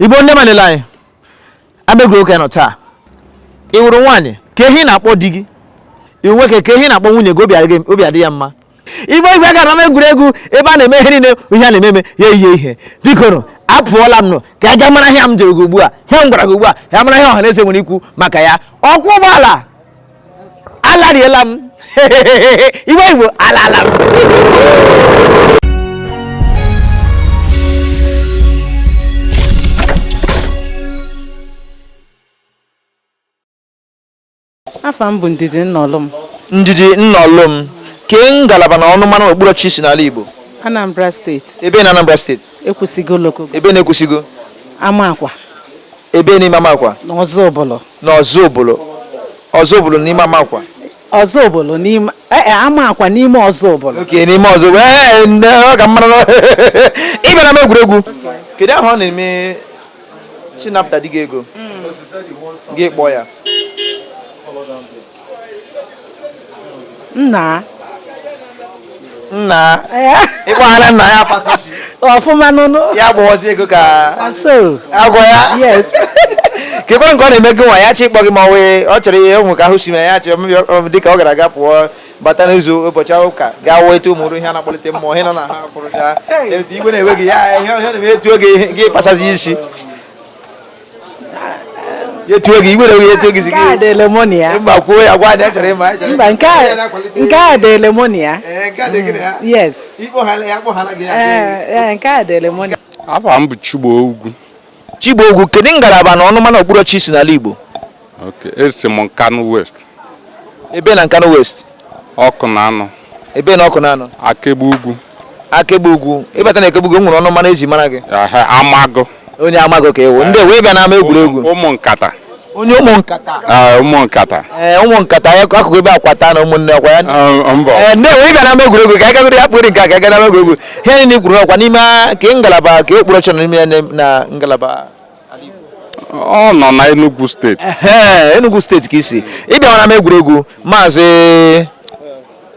igbo ndị ọma na-ele anyị ama egwuregwu okwu a nọ taa ị wụrụ nwaanyị kee ihe ị na-akpọ di gị ị wụ nwoke kee ihe ị na-akpọ nwunye gị obi adị ya mma ime obi a ga n'ama egwuregwu ebe a na-eme ihe niile ihe a na-ememe ya eyihe ihe biko nụ apụọla m nọ ka a ga mara ihe m jụrụ gị ugbu a ihe m gwara gị ugbu a ya mara ihe ọha na eze nwere ikwu maka ya ọkwọ ụgbọala alariela m iwe igbo alala m Afa m bụ Ndidi Nnọlụm. Ndidi Nnọlụm, kee ngalaba na ọnụmara na okpuruọchịchị i si n'ala Igbo? Anambra steeti, Ebe na Anambra steeti? Ekwusigo Local Ebe na Ekwusigo? Amakwa Ebe n'ime Amakwa? na Ọzụbụlụ. Na Ọzụbụlụ. Ọzụbụlụ n'ime Amakwa. Ọzụbụlụ n'ime eh, eh, Amakwa n'ime Ọzụbụlụ. Okay n'ime Ọzụbụlụ. Ee, nne, ọ ka mma na ị bịa n'ama egwuregwu. Kedu ahụ ọ na-eme si napụta di gị ego gị kpọọ ya nna nna ịkpọghara nna ya pasịchi ọfụma n'ụlọ ya gbọwazi ego ka so agwa ya yes kekwa nke ọ na-eme gị nwa ya chị ịkpọ gị ma ọ wee ọ chọrọ ihe ụmụ ka ahụ si na ya chị dịka ọ gara aga pụọ bata n'izu ụbọchị ahụ ka gaa wee etu ụmụrụ ihe a na-akpọlite mmụọ ihe nọ na ha kwurucha iwe na-ewe gị ya ihe ọhịa na-eme etuo gị gị pasazi isi etuo gị iwe na-ewe etuo gị sị gị mba kwuo ya gwa anyị chọrọ ịma mba nke a dị lemonia yes nke a dị lemonia afa m bụ Chigbo Ugwu Chigbo Ugwu, kedu ngalaba na ọnụma na okpuru ọchịchị i si n'ala Igbo? Okay, esi m Nkanu West. Ebe na Nkanu West? Ọkụnanọ. Ebe na Ọkụnanọ? Akegbe Ugwu. Akegbe Ugwu. Ị bata na Akegbe Ugwu e nwere ọnụmara e ji mara gị? Amagụ. Onye Amagụ ka ị wụ. Ndewo ịbịa n'ama egwuregwu. Ụmụ nkata. onye ụmụ nkata ah, ụmụ nkata eh, ụmụ nkata akụkụ ebe akwata na ụmụnne ọkwa ya ah, eh, ndewo ịbịa n'ama egwuregwu ka a gagoro ya kpụrụ nke a ka a ga n'ama egwuregwu ihe niile i kwuru ọkwa n'ime ka ngalaba ka okpuru ọchịchị n'ime ya na ngalaba ọ nọ na Enugu steeti Enugu steeti ka i si ịbịa n'ama egwuregwu maazị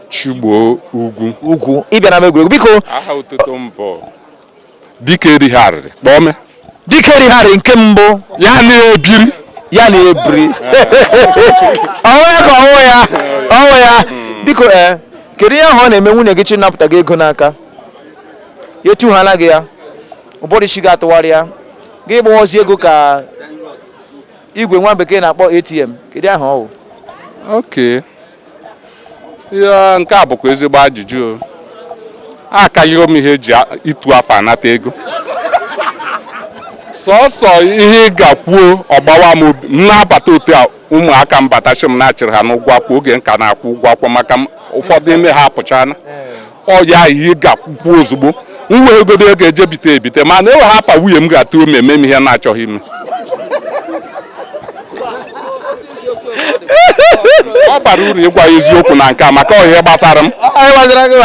Chigbo Ugwu Ugwu ịbịa n'ama egwuregwu biko aha otutu mbọ dike erighị arịrị kpọme dike erighị arịrị nke mbụ ya na-ebiri ya na-ebiri ọnwụ ya ka ọnwụ ya ọnwụ ya biko ee eh, kedu ihe ahụ ọ na-eme nwunye gị ji anapụta gị ego n'aka ya etuhala gị ya ụbụrụ isi gị atụgharịa gị gbawazi ego ka igwe nwa bekee na-akpọ ATM kedu aha ọ wụ okay ihe nke a bụkwa ezigbo ajụjụ o. akarịrị m ihe eji a- ịtụ afa anata ego sọsọ ihe ị ga-kwuo ọ gbawa m obi m na-abata otu a ụmụaka m bata sị m na a chụrụ ha n'ụgwọ akwụkwọ oge m ka na-akwụ ụgwọ akwụkwọ maka m ụfọdụ ime ha apụchana ọ ya ihe ị ga-ekwukwa ozugbo m wee godo ego eje bite ebite mana enweghị afa nwunye m ga-atụ m eme m ihe m na-achọghị ime ọ bara uru ịgwa ya eziokwu na nke a maka ọ ihe gbasara m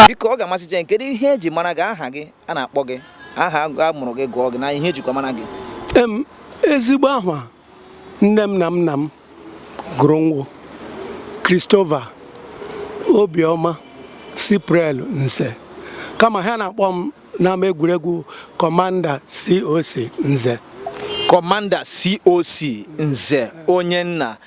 biko ọ ga-amasị anyị kedu ihe eji mara gị aha gị a na-akpọ gị aha a mụrụ gị gụọ gị na ihe ejikwa mara gị ezigbo aha nne m na nna m gụrụ m wụ Christopher Obioma Cypriel Nze kama ha na-akpọ m n'ama egwuregwu Kọmanda COC Nze kọmanda coc nze onye nna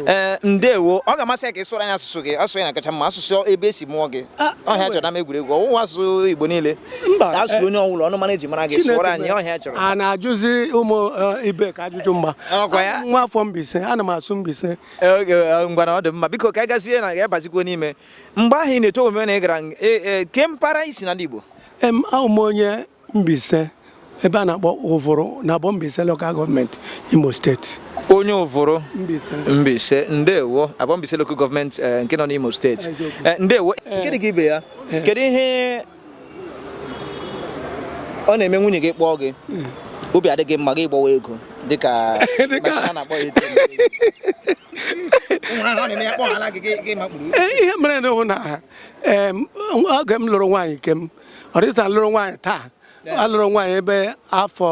ee eh, ndewo ọ ga-amasị anyị ka ị sụọrọ anyị asụsụ gị asụsụ ahụ kacha mma asụsụ ebe e si mụọ gị ọ ihe a chọrọ n'ama egwuregwu ọ wụkwa asụsụ igbo niile mba ka a sụrụ onye ọ wụla ọnụmara eji mara gị sụọrọ anyị ọ ihe anyị chọrọ a na-ajụzi ụmụ eh, ibe ka ajụjụ mma Ọkwa ya? Abụ m nwa afọ Mbaise ana m asụ Mbaise okay, eh, ngwanụ ọ dị mma biko ka anyị gazie na ya bazikwo n'ime mgbe ahụ ị na-eto omume na ị gara ng- eh, eh, kee mpaghara ị si n'ala Igbo em awụ m onye Mbaise ebe a na-akpọ Uvuru na abọ Mbaise lokal gọọmenti Imo steeti onye Uvuru Mbaise ndewo abọ Mbaise lokal gọọmenti eh, nke nọ n'Imo steeti eh, ndewo eh. nke dị ka ibe ya kedu ihe ọ na-eme nwunye gị kpọọ gị hmm. obi adị gị mma gị gbawa ego dịka a na-akpọ ya ihe mere na oge m lụrụ nwaanyị nke m ọ dịta lụrụ nwaanyị taa alụrụ nwaanyị ebe afọ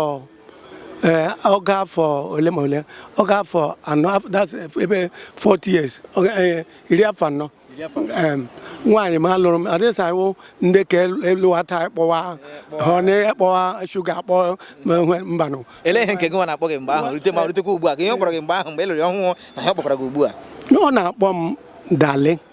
eh, oge afọ ole ma ole oge afọ anọ ebe 40 years eh, iri afọ anọ nwaanyị m lụrụ m adịsawo ndị ka alụwata kpọwa honey kpọwa shuga akpọ mbanụ ele ihe nke gị nwa na-akpọ gị mgbe ahụ rute ma rutekwa ugbu a ka ihe ọ kpọrọ gị mgbe ahụ mgbe ị lụrụ ọhụụ na ha kpọkwara gị ugbu a ọ na-akpọ m darling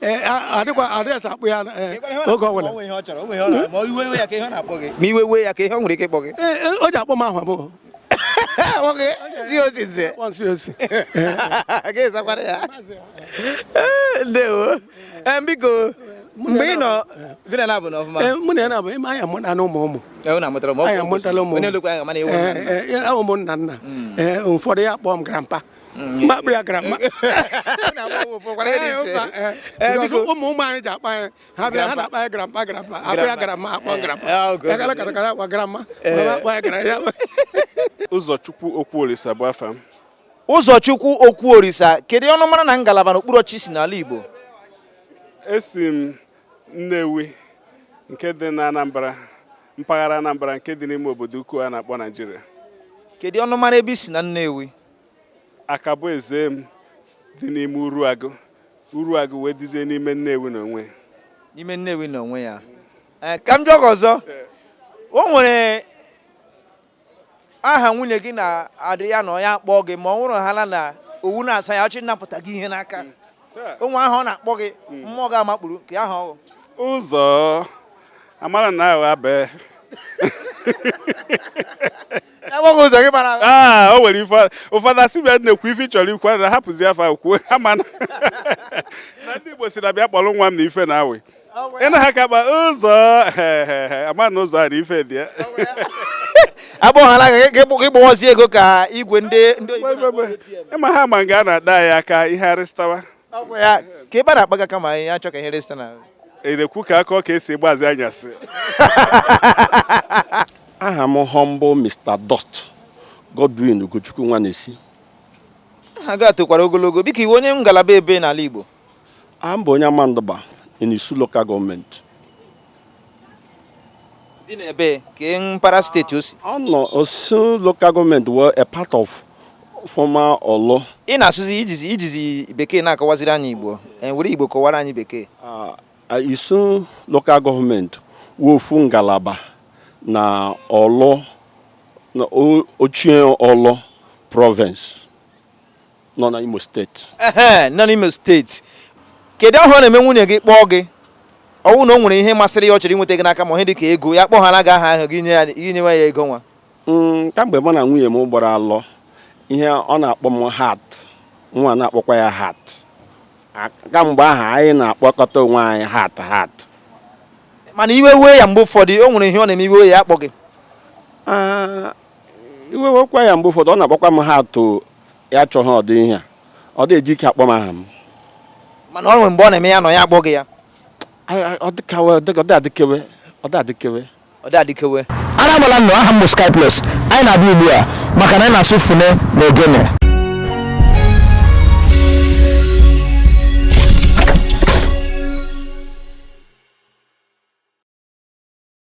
Eh, adịkwa adị asa akpụ ya eh, oge ọ bụla ma iwe we ya kee ihe ọ na-akpọ gị ma iwe we ya kee ihe o nwere ike ịkpọ gị eh, o ji akpọ m aha abụọ nwoke si osi nze nsi osi gị zakwara ya ndewo biko mgbe ị nọ gị na na-abụ n'ọfụma mụ na ya na-abụ ịma anya mụ na ụmụ ụmụ unu amụtara m anyị amụtala ụmụ ụmụ nna nna ụfọdụ ya kpọọ m grampa m kpọọ ya gramma biko ụmụ ụmụ anyị ji akpọ anyị ha bịa ha na-akpọ anyị grampa grampa akpọ ya gramma akpọ grampa ya gara kata kata akpọ gramma akpọ ya gara ya ụzọchukwu okwuolisa bụ afa m ụzọchukwu okwuorisa kedu ọnụmara na ngalaba na okpuru ọchịchị i si n'ala igbo esi m nnewi nke dị na anambra mpaghara anambra nke dị n'ime obodo ukwu a na-akpọ naijiria kedu ọnụmara ebe i si na nnewi akaboezem dị n'ime uruagụ uruagụ wee dịzie n'ime nnewi na onwe ya n'ime nnewi na onwe ya eh, ka m jụọ gị ọzọ o nwere aha nwunye gị na-adị ya na ọ ya akpọ gị ma ọ wụrụhaala na ọ wụ na-asa ya ọ chọ ịnapụta gị ihe n'aka mm. o nwere aha ọ na-akpọ gị mm. mmụọ gị amakpuru kee aha ọ wụ ụzọ amara na agha bee enweghị ụzọ gị mara aa ah, o nwere ife ụfọdụ asị bịa na-ekwu ife chọrọ ikwu na hapụzi afa kwuo ha mana na ndị Igbo sị na bịa kpọrọ nwa m na ife na awị ị na ha ka kpa ụzọ ama na ụzọ a na ife dị ya agbọghọla gị gbụwazi ego ka igwe ndị ndị oyibo ịma ha ma nga a na-ada ya aka ihe arịstawa ọgwụ ya ka ebe a na-akpaga kama anyị achọ ka ihe resịta na erekwu ka aka ọ ka esi gbazi anyasị aha m humble Mr. Dot Godwin Ugochukwu Nwanesi aha gị a tokwara ogologo biko ị wụ onye ngalaba ebee n'ala Igbo a m bụ onye Amandụgba in Isu local gọọmenti dị n'ebee kee mpaghara steeti o si ọ nọ isu local gọọmenti wụ a part of former Orlu ị na-asụzi i jizi i jizi bekee na-akọwaziri anyị igbo e, were igbo kọwara anyị bekee Ah, ah, isu local gọọmenti wụ ofu ngalaba na Orlu na o- ochie Orlu province nọ na Imo steeti ehe nọ n'Imo steeti kedu aha ọ na-eme nwunye gị kpọọ gị ọ wụ na o nwere ihe masịrị ya ọ chọrọ inweta gị n'aka ma ihe dịka ego ya kpọhaala gị aha ahụ gị nye ya gị nyewe ya ego nwa Mm, kamgbe mụ na nwunye m gbara alụ ihe ọ na-akpọ m heart mụwa na-akpọkwa ya heart A- kamgbe ahụ anyị na-akpọkọta onwe anyị heart heart mana iwe wee ya mgbe ụfọdụ o nwere ihe ọ na-eme iwe ya akpọ gị Ah, iwe wekwa ya mgbe ụfọdụ ọ na-akpọkwa m aha atụ ya chọghị ọdị ihe a ọ dị eji ike akpọ m aha m mana o nwere mgbe ọ na-eme ya nọ ya akpọ gị ya Anyị- anyị- ọ dịkawe ọ dịka- ọ dị adịkewe ọ dị adịkewe ọ dị adịkewe ara agbala nnụ aha m bụ skyplus anyị na-abịa ugbu a maka na anyị na-asụ fune na ogene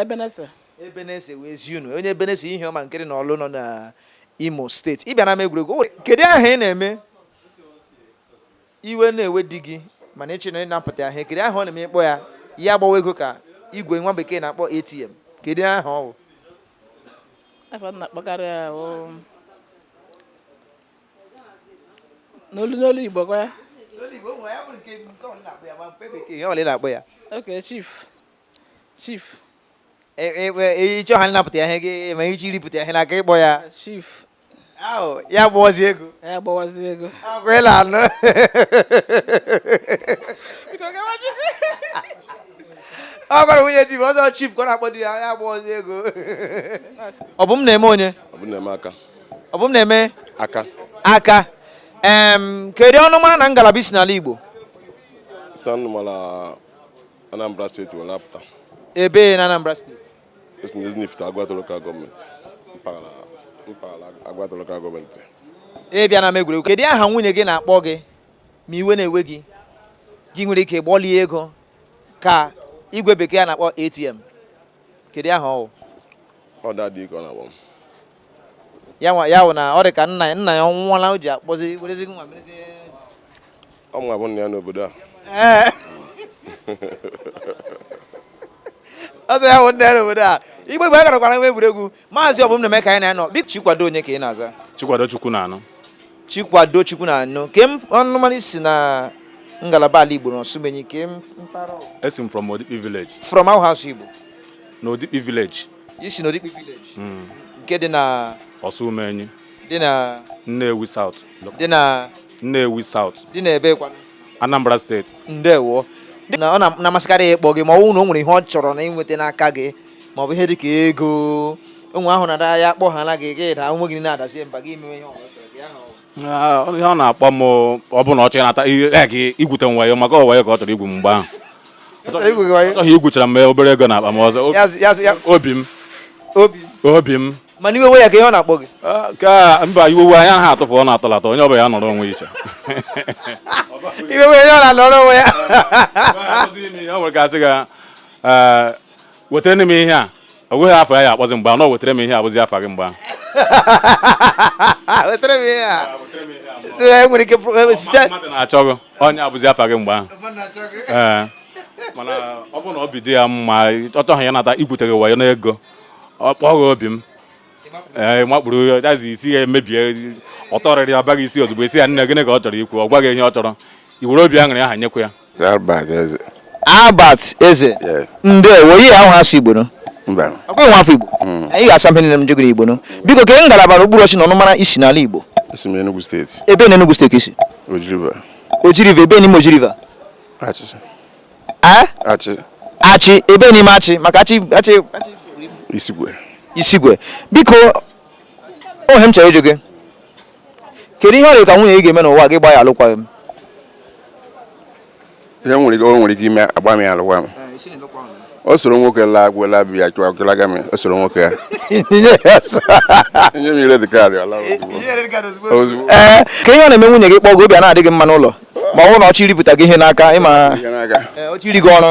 ebenese ebenese wee zi unu onye ebenese Ihioma nke dị na ọlụ nọ na imo steeti ị bịa n'ama egwuregwu kedu aha ị na-eme iwe na-ewe di gị mana ị chọọ ịnapụta ya ihe kedu aha ọ na-eme ị kpọọ ya ya gbawa ego ka igwe nwa bekee na-akpọ atm kedu aha ọ bụ aha m na-akpọkarị ya bụ n'olu n'olu igbo kwa ya N'olu Igbo, ụmụ ya bụrụ nke nke ọ bụla ị na-akpọ ya ma nke bekee ihe ọ bụla ị na-akpọ ya okay chief chief ị chọọ ịnapụta ya ihe gị ma ị chọọ iripụta ya ihe n'aka ị kpọọ ya chief ahụ ya gbawazi ego ya gbawazi ego ngwa ị na-anụ ọ gwara nwunye di m ọzọ chief ka ọ na-akpọ di ya ya gbawazi ego Ọbụmneme onye Ọbụmneme Aka Ọbụmneme Aka Aka kedu ọnụmara na ngalaba i si n'ala Igbo Anambra steeti were apụta ebee na Anambra steeti esi na Ezinifite Agwata lokal gọọmenti mpaghara mpaghara Agwata lokal gọọmenti ị bịa n'ama egwuregwu kedu aha nwunye gị na-akpọ gị ma iwe na-ewe gị gị nwere ike gbalie ego ka igwe bekee a na-akpọ ATM kedu aha ọ wụ ọ daddy ka ọ na-akpọ m ya nwa ya wụ na ọ dị ka nna ya nna ya nwụọla o ji akpọzi werezi mụwa merezi ọ mụ abụ nna ya n'obodo a ọzọ ya wụ nna ya n'obodo a igbe igbe a garakwara n'ama egwuregwu maazị Ọbụmneme ka anyị na-anọ bik chikwado onye ka ị na-aza chikwado Chukwunanụ chikwado Chukwunanụ kee ọnụmara i si na ngalaba ala igbo n'ọsụmenyi ka m esi m from odikpi village from our house igbo na odikpi village i si n'Odikpi village hmm. nke dị na Ọsụmenyi dị na Nnewi South dị na Nnewi South dị na ebee kwanụ Anambra steeti ndewo na ọ na-amasịkarị ya ịkpọ gị ma ọ bụrụ na o nwere ihe ọ chọrọ na ịnweta n'aka gị ma ọ bụ ihe dị ka ego o nwere aha ọ na-adị ya kpọhala gị gị daa onwe gị na-adazie mba gị emewe ihe ọ bụla ọ chọrọ gị ahụ Ah, ihe ọ na-akpọ m ọ bụ na ọ chọrọ ịnata ihe ya ka igwute m wayo maka ọ wayo ka ọ chọrọ igwu m mgbe ahụ Chọrọ igwu gị wayo? ọ chọrọ igwuchara m obere ego na akpa m ọzọ Ya zụ- ya zụ- ya- obi m obi obi m mana iwe wee ya kee ihe ọ na-akpọ gị Ah, ka mba iwe wewe ya ha atụpụ ọ na-atụlata onye ọbụla ya nọrọ onwe iche iwe wee ya ọ na-anọrọ onwe ya o nwere ka asị ga wetara m ihe a o nweghị afa ọ ya-akpọzi gị mgbe ahụ wetara m ihe a bụzi afa gị mgbe ahụ wetara m ihe a sị na enwere ike pụrụ- site mmadụ na-achọ gị onye a bụzi afa gị mgbe ahụ ee mana ọ bụrụ na obi dị ya mma ọ chọọ ịnata igwute gị wayo n'ego ọ kpọọ gị obi m ee makpuru ya dazi isi ya emebie otoriri ya baa gị isi ozugbo ị sị ya nne gịnị ka ọ chọrọ ikwu ọ gwa gị ihe ọ chọrọ i were obi aṅụrị ahụ nyekwa ya Albert Eze. Albert Eze. Ndewo, ị ya-asụ Igbo ụnọ. Mba. Ọkwa ị nwa afọ Igbo. Mm. Anyị ga-asụ mpe nile m jegoro Igbo ụnọ. Biko kee ngalaba na okpuru ọchị na ọnụmara i si n'ala Igbo. Esi m Enugu steeti. Ebee na Enugu steeti i si? Oji River. Oji River, ebee n'ime Oji River? Achị. Eh? Achị. Achị, ebee n'ime Achị, maka achị achị achị. Isikwe. Isikwe. Biko, o nwe ihe m chọrọ ịjụ gị. kedu ihe ọ dị ka nwunye gị ga-eme n'ụwa a gị gbaa ya alụkwaghị m ihe nwere ike o nwere ike ime agbaa m ya alụkwa m o soro nwoke laa agwụ laa bi ya chụwa gịlaga m o soro nwoke ya nye m red card ala ozugbo ee kee ihe ọ na-eme nwunye gị kpọọ gị obi ana-adị gị mma n'ụlọ ma ọ bụrụ na ọ chọọ iripụta gị ihe n'aka ịma ya n'aka ọ chọọ iri gị ọrụ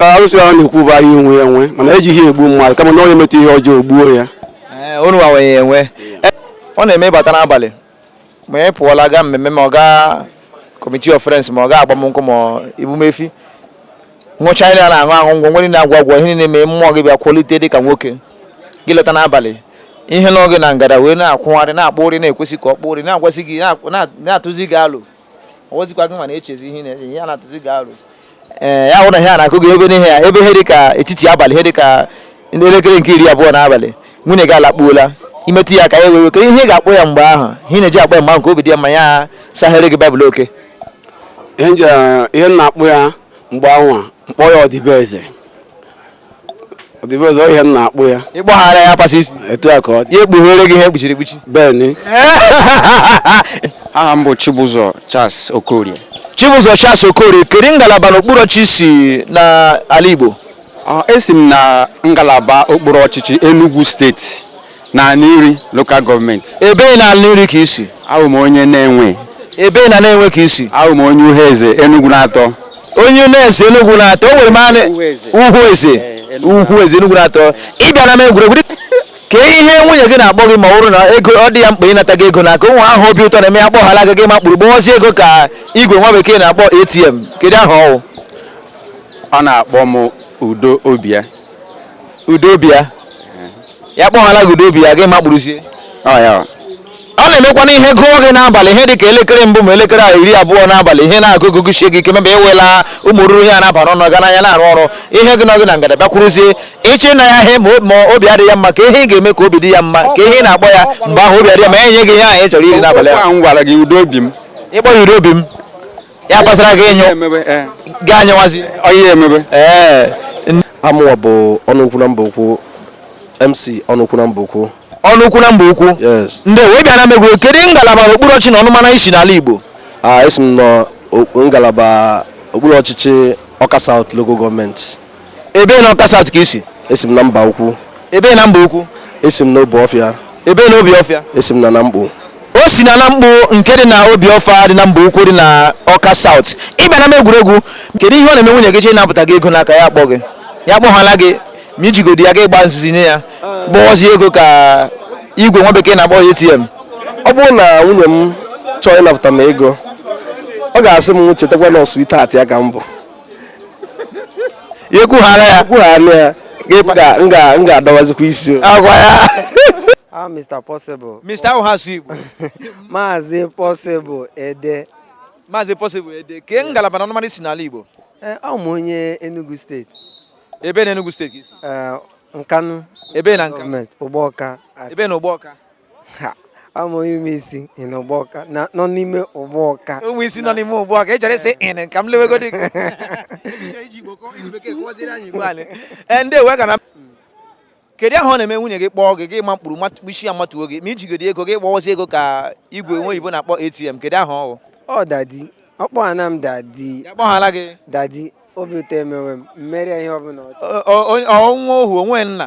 arụsị ahụ na-ekwu bụ ahịa onwe ya nwe mana ejighị egbu mmadụ kama na onye metụ ihe ọjọọ o gbuo ya onu wawe ya o nwe ihe ọ na-eme ị bata n'abalị ma ị pụọla gaa mmemme ma ọ gaa committee of friends ma ọ gaa agbamnkwụ ma ebumefi ṅụchaa ihe a na-aṅụ aṅụ ngwọ nwere na-agwa agwọ ihe na-eme mmụọ gị bịa kwalite dị ka nwoke gị lọta n'abalị ihe n'oge na ngada wee na-akwụgharị na-akpụ ụrị na-ekwesị ka ọ kpụ ụrị na-agwasị gị na-atụzi gị alụ ọ wụzikwa gị ma na-echezi ihe na-eze ihe a na-atụzi gị arụ ee ya wụrụ na ihe a na-akụ gị ebe n'ihe ya ebe ihe dị ka etiti abalị ihe dị ka ndị elekere nke iri abụọ n'abalị nwunye gị alakpuola i metụ ya aka ya wee iwe kee ihe ị ga-akpọ ya mgbe ahụ ihe ị na-eji akpọ ya mgbe ahụ nke obi dị ya mma ya sahere gị baịbụl okay ihe m ji- ihe m na-akpọ ya mgbe anwa m kpọọ ya Ọdịbe eze Ọdịbe eze ihe m na-akpọ ya ị kpọghara ya pasaa isi etu a ka ọ dị ya ekpughere gị ihe e kpuchiri ekpuchi beni aha m bụ Chibụzọ Charles Okorie Chibụzọ Charles Okorie kedu ngalaba n'okpuru ọchịchị i si n'ala Igbo Ọ, esi m na ngalaba okpuru ọchịchị Enugu steeti na Aninri lokal gọọmenti ebee na Aninri ka i si abụ m onye Nenwe ebee na Nenwe ka i si abụ m onye Uhueze Enugu na-atọ onye na-eze Enugu na-atọ o nwere manị Uhueze Uhueze Enugu na-atọ ị bịa n'ama egwuregwu kee ihe nwunye gị na-akpọ gị ma ọ bụrụ na ego ọ dị ya mkpa ịnata gị ego n'aka ụmụ aha obi ụtọ na-eme ya kpọghara gị gị makpuru gbọwazi ego ka igwe nwa bekee na-akpọ ATM kedu aha ọ wụ ọ na-akpọ m udo obi ya udo obi ya ya kpọhala gị udo obi ya gị makpuruzie ọ ya ọ. ọ na-emekwa na ihe gụọ gị n'abalị ihe dị ka elekere mbụ ma elekere iri abụọ n'abalị ihe na-agụ gị gụchie gị ike mebe ewela ụmụ oruru ihe a na-aba n'ọnụ ga n'anya na-arụ ọrụ ihe gị nọ gị na ngada bịakwuruzie ịchọ ịna ya ihe ma o- ma obi adị ya mma kee ihe ị ga-eme ka obi dị ya mma kee ihe ị na-akpọ ya mgbe ahụ obi adị ya ma enye gị ihe ahụ ị chọrọ iri n'abalị Okwu ahụ a m gwara gị udo obi m ịkpọ ya iri obi m ya pasara gị ịnyụ emebe ee gị anyụwazi ọyị emebe ee aha mụwa bụ ọnụ ukwu na Mbaukwu MC ọnụ ukwu na Mbaukwu ọnụ ukwu na Mbaukwu yes ndewo ịbịa n'ama egwuregwu kedu ngalaba okpuru ọchịchị na ọnụmara i si n'ala igbo a esi m nọ o- ngalaba okpuru ọchịchị Ọka South local gọọmenti Ebe na Ọka South ka i si? Esi m na Mbaukwu. Ebe na Mbaukwu? Esi m na Obi Ọfịa. Ebe na Obi Ọfịa? Esi m na Namkpu. O si na Namkpu nke dị na Obi Ọfịa dị na Mbaukwu dị na Ọka South. Ị bịa n'ama egwuregwu, kedu ihe ọ na-eme nwunye gị chọọ ịnapụta gị ego n'aka ya akpọ gị? Ya akpọhala gị ma i jigodi ya gị gbaa nzuzu nye ya gbọọzie ego ka igwe nwa bekee na-akpọ ATM. Ọ bụrụ na nwunye m chọọ ịnapụta m ego, ọ ga-asị m chetakwa na ọ sweetheart ya ka m bụ. ya ekwuhala ya ekwuhala ya m ga-adọwazikwa isi agwa ya Ah, Mr. Possible. Mr. awụghị asụsụ Igbo. Maazị Possible Ede. Maazị Possible Ede. Kee ngalaba na ọnụmara i si n'ala Igbo? Eh, ọ m onye Enugu steeti. Ebe na Enugu steeti ka i si? Eh, Nkanu. Ebe na Nkanu. Ụgbọọka. Ebe na Ụgbọọka. a m onye Ụmụisu nọ Ụgbọọka nọ n'ime Ụgbọọka Ụmụisu nọ n'ime Ụgbọọka echere sị ịnị ka m lewegodi e, ndị ewe gara kedu aha ọ na-eme nwunye gị kpọọ gị gị makpuruzie ya matuo gị ma i jigodi ego gị gbọwazie ego ka igwe nwa oyibo na-akpọ ATM kedu aha ọ ọ daddy ọ kpọhana m daddy ọ kpọhala gị daddy obi ụtọ emewe m m mee ihe ọbụla ọ chọ ọnwa ohu onwe nna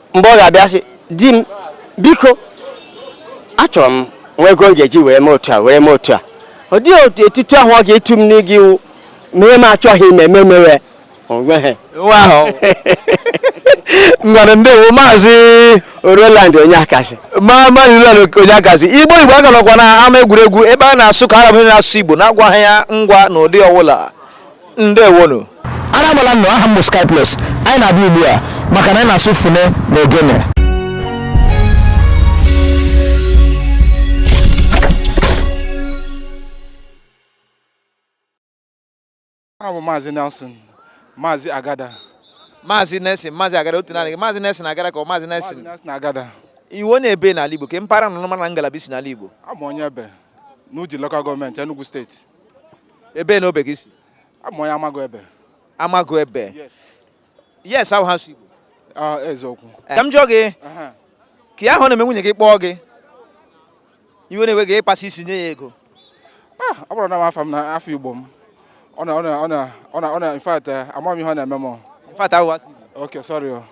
mgbe ọ ga-abịa sị di m biko achọrọ m nwa ego m ga-eji wee mee otu a wee mee otu a ọ dị otu etutu ahụ ọ ga-etu m n'ịga iwu mee m achọghị ime eme mewe onweghị nwa ahụ ngwanụ ndewo maazị Roland Onyeakazi ma maazị Roland Onyeakazi Igbo Igbo a ka nọkwa n'ama egwuregwu ebe a na-asụkarị asụsụ Igbo na-agwaghị ya ngwa n'ụdị ọwụla ndewonụ ara agbala ụnụ aha m bụ Sky Plus anyị na-abịa ugbu a maka na anyị na-asụ fune na ogene aha bụ maazị Nelson maazị Agada maazị Nelson maazị Agada otu naanị gị maazị Nelson Agada ka ọ maazị maazị Nelson Nelson Agada ị wụ onye ebe n'ala Igbo kee mpaghara ọnụmara ngalaba i si n'ala Igbo abụ m onye Ebe n'Udi Local Gọọmenti Enugu Steeti ebe na obe gị si abụ m onye amago ebe amago ebe yes ahụ ha si igbo ah, eziokwu ka m jụọ gị ke ihe ọ na-eme nwunye gị kpọọ gị iwe na-ewe gị ịkpasị isi nye ya ego ah, ọ bụrụ na m afa m na afa igbo m ọ na ọ na ọ na ọ na in fact eh, amaghị m ihe ọ na-eme m in fact ahụ ha si igbo okay sorry oh.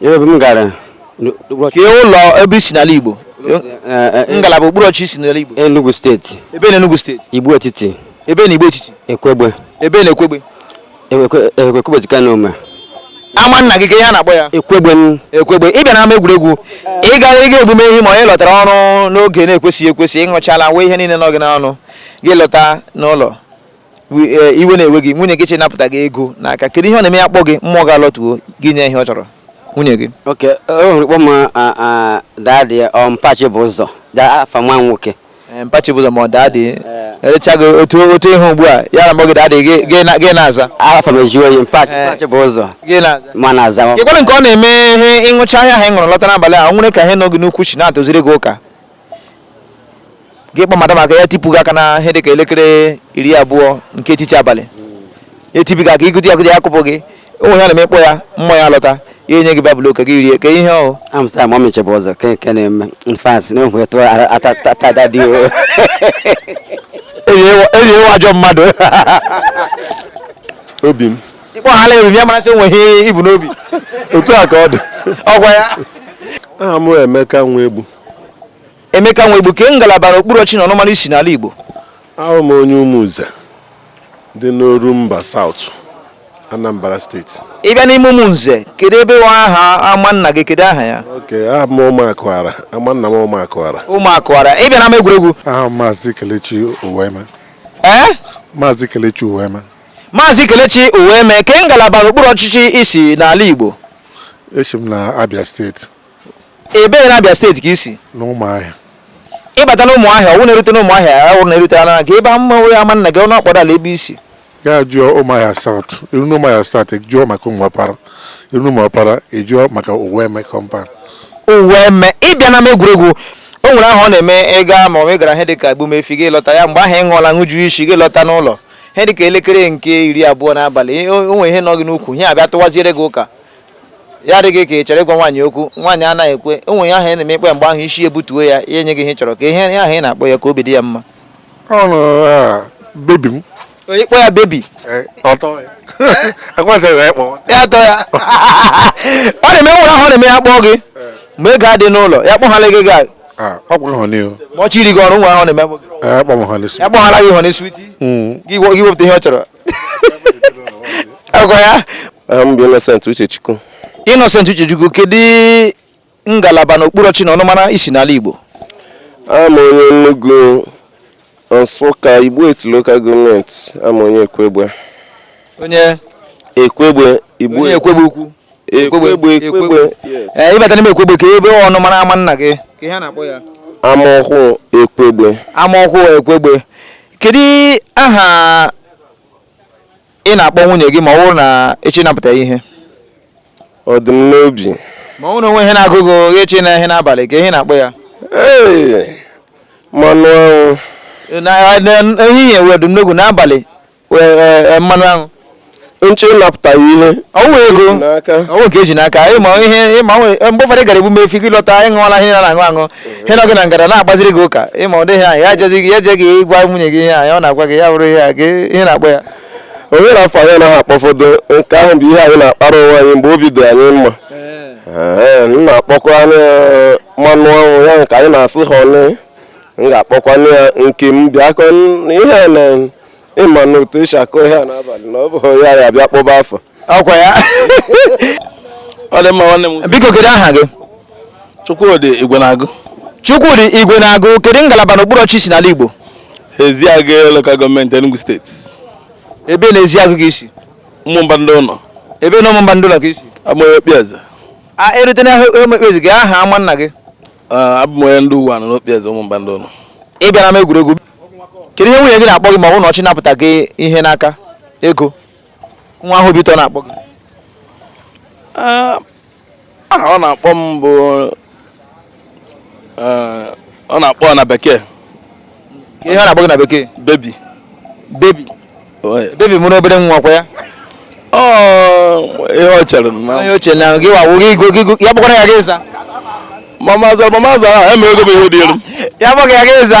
ebe m gara ka ụlọ ebe i si n'ala Igbo eh, eh, eh, ngalaba okpuru ọchịchị i si n'ala Igbo Enugu steeti ebe na Enugu steeti Igbo etiti ebe na Igbo etiti Ekwegbe ebe na Ekwegbe Ekwegbe dịka na ome ama nna gị ke ihe a na-akpọ ya ekwegbe ekwegbe ị bịa n'ama egwuregwu ị gara ịga ebume ihe ma ị lọtara ọrụ n'oge na-ekwesịghị ekwesị ịṅụchala nwe ihe niile nọ gị n'ọnụ gị alọta n'ụlọ Eh, iwe na-ewe gị nwunye gị chọọ ịnapụta gị ego n'aka kedu ihe ọ na-eme ya kpọ gị mmụọ gị alọtuo gị enye ihe ọ chọrọ nwunye gị oke o nwere kpọ m daadị um, mpa Chibụzọ afa nwa nwoke eh, mpa Chibụzọ ma ọ daadị erecha eh. gị otu otu ihe ugbu a ya na-akpọ gị daadị gị na-aza afa m eji oyi mpa Chibụzọ ma na azaghịkwara nke ọ na-eme ihe ị ṅụcha ihe ahụ ị ṅụrụ lọta n'abalị o nwere ka ihe nọ gị n'ukwu chi na-atụziri gị ụka gị akpa madam aka ya etipụ gị aka na ihe dịka elekere iri abụọ nke etiti abalị etibi gị aka igụdị agụdị ya akụpụ gị o nwe ihe ị na-eme kpọ ya mmụọ ya alọta ya enye gị babụl oke gị rie ka ihe ọhụ amsa mọmi Chibụzọ ke nke na-eme nfas na enwe tụọ atada dị o enyi ị wụ ajọ mmadụ obi m ịkpọ ha ala eriri ya mara sị o nwe ihe i bu n'obi otu a ka ọ dị ọgwa ya aha m Emeka Nwegbu Emeka Nwegbu ke ngalaba na okpuru ọchịchị na ọnụmara i si n'ala Igbo awụ m onye Umunze dị n'Orumba South Anambra steeti ị bịa n'ime Umunze kedu ebe wụ aha ama nna gị kedu aha ya oke aha m ụmụakụara ama nna m ụmụakụara ụmụakụara ị bịa n'ama egwuregwu aha maazị Kelechi Uweme ee maazị Kelechi Uweme maazị Kelechi Uweme ke ngalaba n'okpuru ọchịchị i si n'ala Igbo esi m na Abia steeti ebee na Abia steeti ka i si n'ụmụahịa ị bata na ụmụahịa ọ wụ na e rute n'ụmụahịa ọ wụ na e rute na gị ebe ama onye ama nna gị ọnụ ọkpọrọ ala ebe i si ya jụọ ụmụahịa saut i ru na ụmụahịa saut jụọ maka ụmụọpara i ru na ụmụọpara ị jụọ maka Uweme kọmpan Uweme ị bịa n'ama egwuregwu o nwere ahụ ọ na-eme ịga ma ọ gara ihe dịka egbumefi gị alọta ya mgbe ahụ ị ṅụọla ṅụju isi gị alọta n'ụlọ ihe dịka elekere nke iri abụọ n'abalị o nwere ihe nọ gị n'ukwu ihe abịa tụwaziere gị ụka ya dị gị ka ị chọrọ ịgwa nwaanyị okwu nwaanyị anaghị ekwe onwe ya ahụ ị na-eme ikpe mgbe ahụ isi ebutuo ya ya enye gị ihe ị chọrọ ka ihe ahụ ị na-akpọ ya ka obi dị ya mma ọnụ bebi m onye kpọ ya bebi eh, ọ tọọ ya ekwentịghị ịkpọ ya atọ ya ọ na-eme nwere ihe ọ na-eme ya kpọọ gị mgbe ego adị n'ụlọ ya kpọghala gị gaa ọkwa ịhụ n'ihu ma ọ chiri gị ọrụ nwa ahụ na-eme ya kpọghala gị ịhụ n'isi gị wepụta ihe ọ chọrọ aha m bụ Innocent Uchechukwu Innocent Uchechukwu kedu ngalaba na okpuru ọchị na ọnụmara i si n'ala Igbo abụ m onye Enugu Nsụka Igbo Etiti local gọọmenti abụ m onye Ekwegbe onye Ekwegbe Igbo onye Ekwegbe ukwu Ekwegbe Ekwegbe ee eh, ị bata n'ime Ekwegbe kee ọnụmara ama nna gị kee ihe a na-akpọ ya ama ọhụụ Ekwegbe ama ọhụụ Ekwegbe kedu aha ị na-akpọ nwunye gị ma ọ bụrụ na ị chọ ịnapụta ihe ọ dị m n'obi ma ọ bụrụ o nwee ihe na-agụ gị echi na ihe n'abalị kee ihe ị na-akpọ ya mmanụ anwụ ehihie ọ dị m n'obi n'abalị mmanụ anwụ nche ịnapụta ya ihe ọ bụ ego n'aka ọ bụ nke eji n'aka ịma ihe ịma nwe- mgbe ụfọdụ ị gara emume efi gị lọta anyị ṅụọla ihe a na-aṅụ aṅụ ihe nọ gị na ngara na-agbaziri gị ụka ịma ọ dịghị anyị ya ejeghị gị eje gị gwa nwunye gị ihe anyị ọ na-agwa gị ya bụrụ ihe a gị ihe na-akpọ ya o nwere afa anyị anaghị akpọfọdụ nke ahụ bụ ihe anyị na-akpara onwe anyị mgbe obi dị anyị mma Ee, m na-akpọkwanụ ya mmanụ anwụ ya nke anyị na-asị ha ọnụ m ga-akpọkwanụ ya nke m bịakwa n- ihe a na ịma na otu esi akụ ihe a n'abalị na ọ bụ ya ya bịa kpọba afa ọ kwa ya ọ dị mma nwanne m biko kedu aha gị Chukwudi Igwenagụ Chukwudi Igwenagụ kedu ngalaba n'okpuru ọchị i si n'ala Igbo Eziagụ lokal gọọmenti Enugu steeti ebee na Eziagụ ka i si Ụmụmba Ndịụnọ ebee na Ụmụmba Ndịụnọ ka i si abụ m onye okpieze a erute na okpieze kee aha ama nna gị abụ m onye ndị uwenu n'okpieze Ụmụmba Ndịụnọ ị bịara m egwuregwu kedu ihe nwunye gị na-akpọ gị ma ọ bụ na ọ chọ ịnapụta gị ihe n'aka ego nwa ahụ obi ụtọ na-akpọ gị aha ọ na-akpọ m bụ eh, ọ na-akpọ na bekee kee ihe ọ na-akpọ gị na bekee bebi bebi bebi mụrụ obere nwa ọ kwa ya ihe ọ chere ihe o chere na gị wawo gị go gị go ya bụkwara ya gị ịza mama zara mama zara ha emere ego m ihe dị elu ya bụghị ya gị ịza